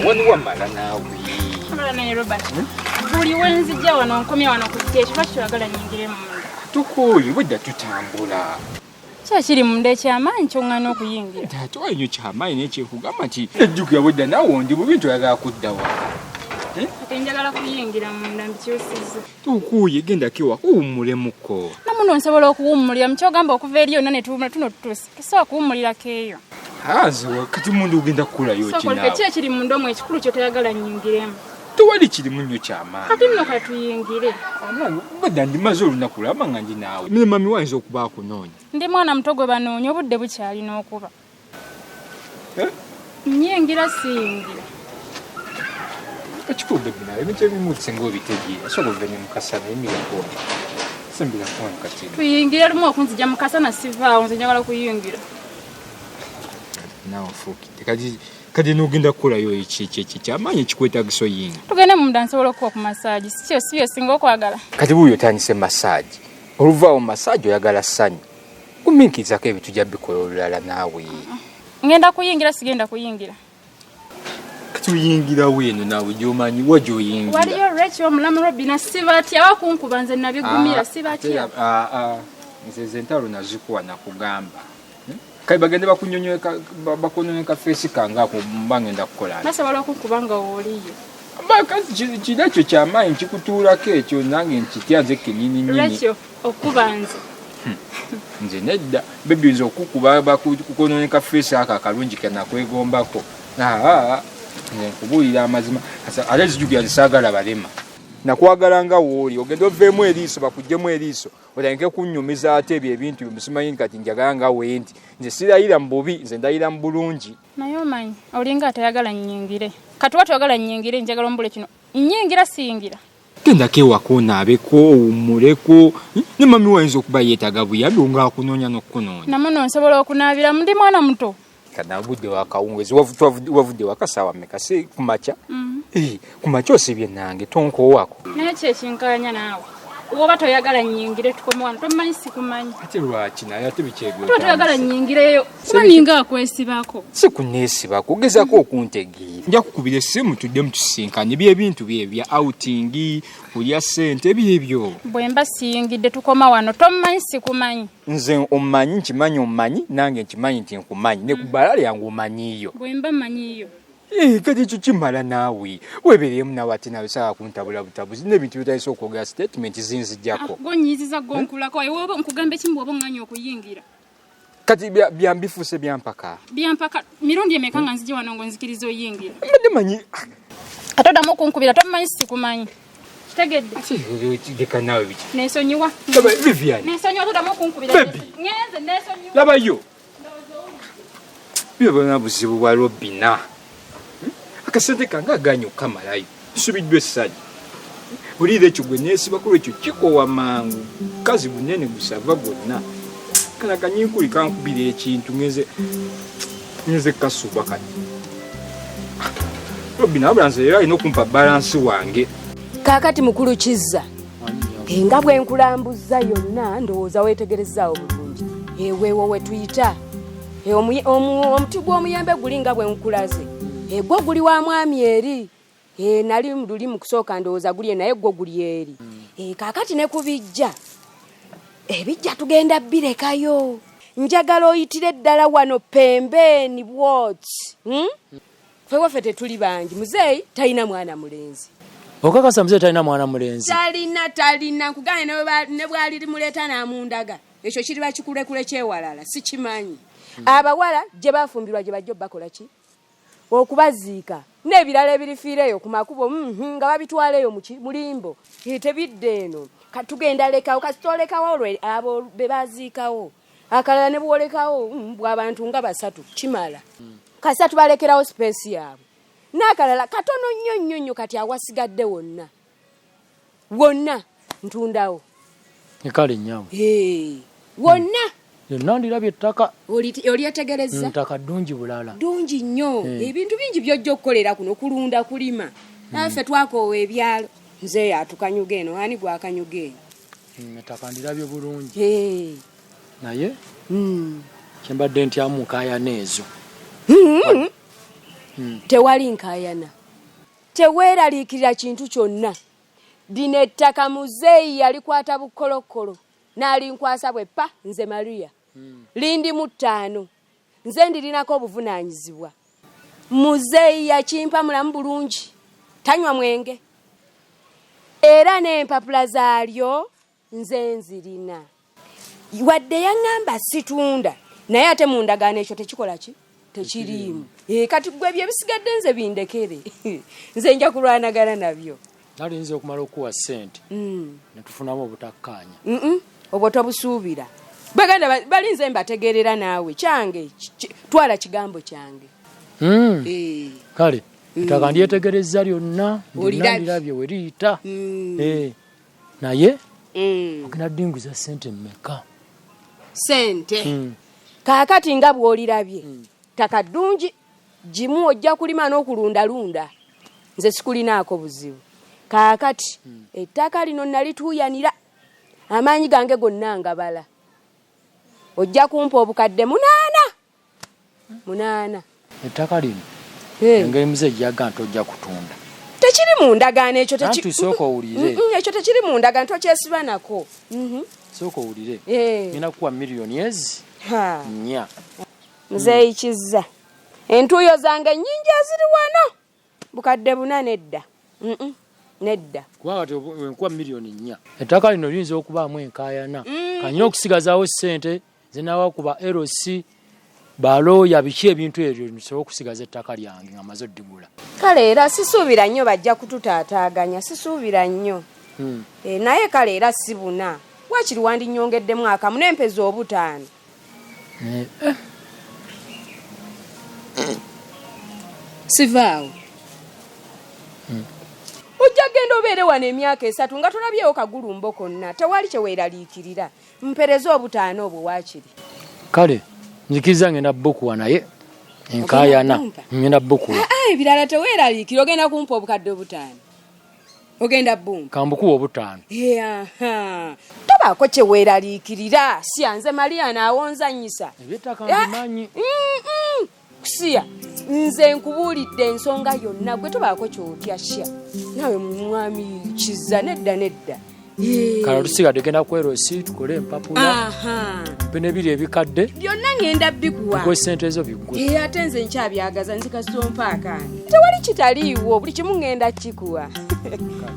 wani wamala naawe buli wenzija wano nkomya wano ku kiteeki lwaki toyagala nyingire munda tukooye obwedda tutambula kyakiri munda ekyamaanyi kyoŋŋana okuyingira taata wanyo kyamaanyi naye kyekugamba nti ejjukira obwedda nawe ondi bubi nti oyagala kudda wa eh? kati njagala kuyingira munda mbikyusiza tukuuye gendako ewaka uwummulemuko namuno nsobola okuwummulira mukyogamba okuva eri yonna netuwumula tuno tutuuse Kisobola kuwummulira keeyo. Hazi wakati mundu ugenda kukulayo ki naawe. Sokola kiki ekiri munda omwo ekikulu kyo toyagala nnyingiremu. Tewali kirimu nnyo ky'amaanyi. Kati nno ka tuyingire. Obwedda ndimaze olunaku laba nga ndi naawe. Mimi mami wayinza okuba akunoonya. Ndi mwana muto gwe banoonya obudde bukyalina okuba. Eh? Nyingira siyingira. Ekikubbe bino ebintu ebimu singa obitegeera osobola okuva ne mukasa naye miragona simbira kuwa mukati. Tuyingire lumu okunzija mukasa na sivaawo nze njagala kuyingira. Nawe fuukidde kati kati nogenda kukolayo kyamaanyi ekikwetagisa oyinga. Tugende munda nsobola okuwa ku masaagi si kyo si bye singa okwagala. Kati buuyo otandise masaagi oluvaawo masaagi oyagala ssanyu. Guminkizako ebintu ja bikola olulala naawe. Ngenda kuyingira sigenda kuyingira. Tuyingira weno naawe gyomanyi wa gyoyingira. Waliyo Rachel omulamu Robina sibatya bakunkuba nze nabigumira ah, sibatya. Ah, ah, nze ze ntalo nazikuwa nakugamba. Hmm? Kale bagende bakunyonyeka feesi kange ako mba ngenda kukola. Nasobola okukuba nga woliyo. Maka kino ekyo kyamaanyi kikutuulako ekyo nange nkitya nze kenyini nyini. okuba nze hmm. nze nedda bebi nze okukuba bakukononeka feesi ako akalungi kenakwegombako nze nkubuulira amazima ate zijugira zisaagala balema nakwagala nga wooli ogenda oveemu eriiso bakugjemu eriiso otandike kunyumiza ate ebyo ebintu byomusimanyi kati njagala nga wendi nze sirayira mu bubi nze ndayira mu bulungi naye omanyi olinga atayagala nyingire kati watoyagala nyingire njagala omubule kino nyingira siyingira Gendako ewaka onaabeko owummuleko ne mami wo ayinza okuba yeetaaga buyambi olwo ng'akunoonya n'okukunoonya. Namu no nsobola okunaabiramu ndi mwana muto. Kana budde wa kawungeezi wavudde waka ssaawa mmeka si ku makya? Mm-hmm. Ku makya osibye nange tonkoowako. Naye ki ekinkalanya naawe? Oba toyagala nnyingire tukome wano tommanyi sikumanyi. Ate lwaki naye ate bikyegweko. Toyagala nnyingireyo. kuba ninga akwesibako si kuneesibako ogezako okuntegeera nja kukubira essimu tudde mutusisinkanye byebintu bye bya outingi kulya ssente byebyo bwe mba siyingidde tukoma wano tomumanyi sikumanyi nze omumanyi nkimanyi omumanyi nange nkimanyi nti nkumanyi ne ku bbala lyange omanyiiyo bwe mba manyiiyo eh, kati ekyo kimala naawe webereemu naawe ate nawe saa kuntabula butabuzi nebintu byotandisa okwogera sitatimenti zinzijako ah, gonyiiziza gonkulako aye woba nkugamba ekimu bwoba oŋŋanya okuyingira kati byambifuuse byampaka byampaka mirundi emeka nga nzija wano ngo nzikiriza oyingira mbadde manyi ate oddamu okunkubira tomumanyi sikumanyi kitegeddeleka naawe biki nesonyiwa vivian nesonyiwa todamu okunkubira ngenze nesonyiwa labayo Byo bana buzibu bwa Robina. Akasente kange aganyo kamalayo. Subiddwa essanyu. Buliira ekyo gwe neesiba ku lwekyo kikowa mangu. Kazi bunene gusava gwonna. Kala kanyinkuli kankubira ekintu ngenze ngenze kasuba kati. Robina abula nze era alina okumpa balansi wange. Kaakati mukulu Kizza nga bwe nkulambuzza yonna ndowooza weetegerezaawo bulungi eweewo we tuyita omuti gw'omuyembe guli nga bwe nkulaze egwo guli wa mwami eri nali luli mu kusooka ndowooza gulye naye gwo guli eri kaakati ne ku bijja ebijja tugenda birekayo njagala oyitire ddala wano pembeeni bwoti hmm? Ffe waffe tetuli bangi. Muzeeyi talina mwana mulenzi. Okakasa muzeeyi talina mwana mulenzi? Talina, talina. Nkugane ne bwali limuleeta n'amundaga. Ekyo kiriba kikulekule kyewalala. Sikimanyi. Hmm. Abawala gye bafumbirwa gye bajja bakola ki? Okubaziika. N'ebirala ebirifiira eyo ku makubo hmm, hmm, nga babitwala eyo muki mulimbo. Tebidde eno. Katugenda lekawo kasitolekawo olwe abo be baziikawo. akalala ne bwolekawo mm, bwabantu nga basatu kimala kasita tubalekerawo sipeesi yaabwe n'akalala katono nnyo nnyo nnyo kati awasigadde wonna wonna ntundawo ekale nyabo wonna yonna ndirabye ettaka olyetegereza ntaka ddungi bulala ddungi nnyo eh. ebintu bingi byojja okukolera kuno kulunda kulima hmm. naffe twakoowa ebyalo nze yatukanyuga eno ani gwakanyuga eno Mm, ettaka ndirabye bulungi naye mm. kyembadde ntyamu nkayana ezo mm-hmm. mm. tewali nkayana teweeraliikirira kintu kyonna lino ettaka muzeeyi yalikwata bukolokkolo n'alinkwasa bwe pa nze maria lindi mu ttaano nze ndirinako obuvunaanyizibwa muzeeyi yakimpa mulamu bulungi tanywa mwenge era n'empapula zaalyo nze nzirina wadde yaŋŋamba situunda naye ate mu ndagaano ekyo tekikola ki tekiriimu eh, kati gwe ebyo ebisigadde nze bindekere nze nja kulwanagana nabyo nalinza okumala okuwa sente mm. netufunamu obutakkaanya obwo tobusuubira baganda balinze mbategeerera naawe kyange twala kigambo kyange mm. eh. kale mm. ettaka ndyetegereza lyonna ndirabye weriyita mm. eh. naye mm. ogenda dinguza sente mumeka sente mm. kaakati nga bwolirabye mm. ttaka ddungi gimu ojja kulima n'okulundalunda nze sikulinaako buzibu kaakati hmm. ettaka lino nalituuyanira amaanyi gange gonna ngabala ojja kumpa obukadde munaana munaana ettaka lino engeri muze ejjaga nti ojja kutunda tekiri mu ndagaano ekyo sooka owulire mm, mm, ekyo tekiri mu ndagaano tokyesiba nako mm-hmm. sooka owulire ngenda kukuwa milliyoni ezi nnya Muzeeyi Kizza, entuuyo zange nnyingi eziri wano bukadde buna nedda nedda kubanga enkuba miliyoni nnya ettaka lino liyinza okubaamu enkaayana mm. kanyina okusigazaawo ssente zinawa ku ba LC balooya biki ebintu ebyo nsobola okusigaza ettaka lyange nga maze oddigula kale era sisuubira nnyo bajja kututaataaganya sisuubira nnyo hmm. eh, naye kale era si buna wakiri wandinyongeddemu akamu n'empeza obutaano Naye eh. sivaawo hmm. ojja genda obeere wano emyaka esatu nga tolabyewo kagulumbo konna tewali kyeweeraliikirira mpereza obutaano obwo waakiri kale nzikiriza ngenda bukuwa naye enkayana ngenda bukuwa ah, ah, ebirala teweeraliikira ogenda kumpa obukadde obutaano ogenda bumba kambukuwa obutaano tobaako kyeweeraliikirira siya nze maria naawonzanyisa ebyetaka mbimanyi eh, mm, mm. kusiya nze nkubuulidde ensonga yonna gwe tobaako kyotya sya naawe mwami kiza nedda nedda kala tusigadde genda kwerosi tukole empapula bino ebiri ebikadde byonna ngenda bikuwa gwe sente ezo bigwe eh, ate nze nkyabyagaza nzikasompaakaani tewali kitaliiwo buli kimu ngenda kikuwa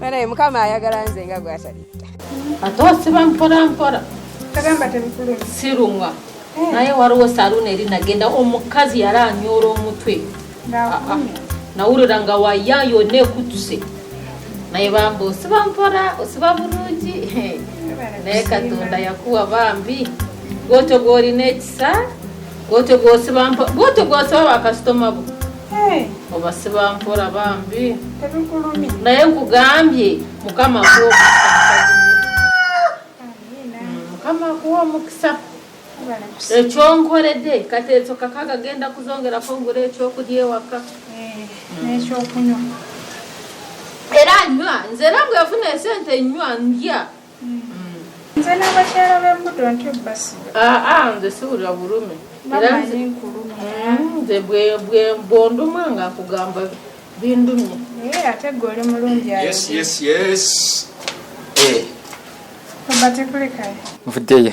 naye mukama ayagala nze nga gwatalitta ate osiba mpolampola kagamba temukulu sirumwa eh. naye waliwo saluuni eri nagenda omukazi yali anyoora omutwe nawulira nga waya yonna ekutuse naye bambi osiba mpora osiba bulungi naye katonda yakuwa bambi gwotyo gwolina ekisa gwotyo gwosiba mpora gwotyo gwosiba bakasitoma bo obasiba mpora bambi naye nkugambye mukama kuwa omukisa mukama kuwa omukisa ekyonkoledde kati ekyo kakaga genda kuzongerako ngula ekyokulya ewaka eh, nekyokunywa era nywa nze era bwefuna esente nywa ndya hmm. nze nabakyala bembuto ntyo basiga ah, ah, nze siwulira bulume hmm, nze bwondumwa nga akugamba bindumye eh, ate gwe oli mulungi nvudeyo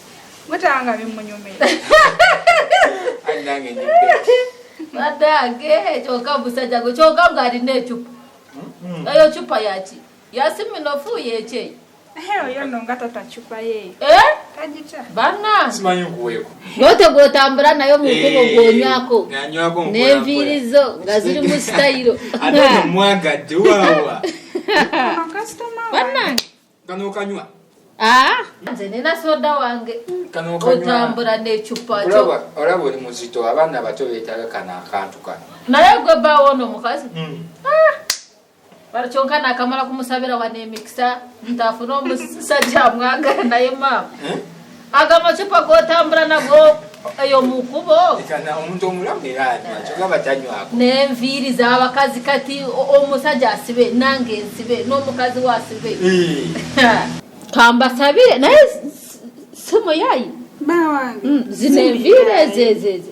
mutanga bimunyumira badange kyoka musajja gwe kyoka nga alina ecupa hmm? eyo cupa yaki yasiminofu yekyeyo yotegwotambula eh? nayo mukubo eh, gwonywako nenviiri zo nga ziri mu sitayiro kano okanywa ah! nze nina soda wange otambula necupa olaba oli muzito abaana bato betaga kano akantu kano naye gwe bawo ono omukazi hmm. ah! bali kyonka nakamala kumusabira wanemikisa ntafuna omusajja amwagala naye maama eh? aga amacupa gotambula nago eyo mukubo omuntu omulamu era akyogaba tanywako nenviiri zabakazi kati omusajja asibe nange nsibe n'omukazi wasibe kambasabire naye simuyayi mm, zino enviiri ezezeeze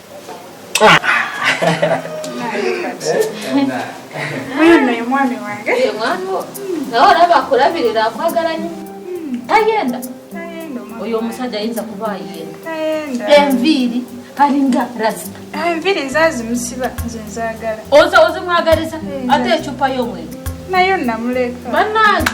omwami wange nawe olaba akulabirira akwagala nyo tayenda oyo omusajja ayinza kuba ayenda enviiri alinga rasita ah, enviiri nzazimusiba nze nzagala oza ozimwagaliza ate ecupa yomwenge nayo namuleka banange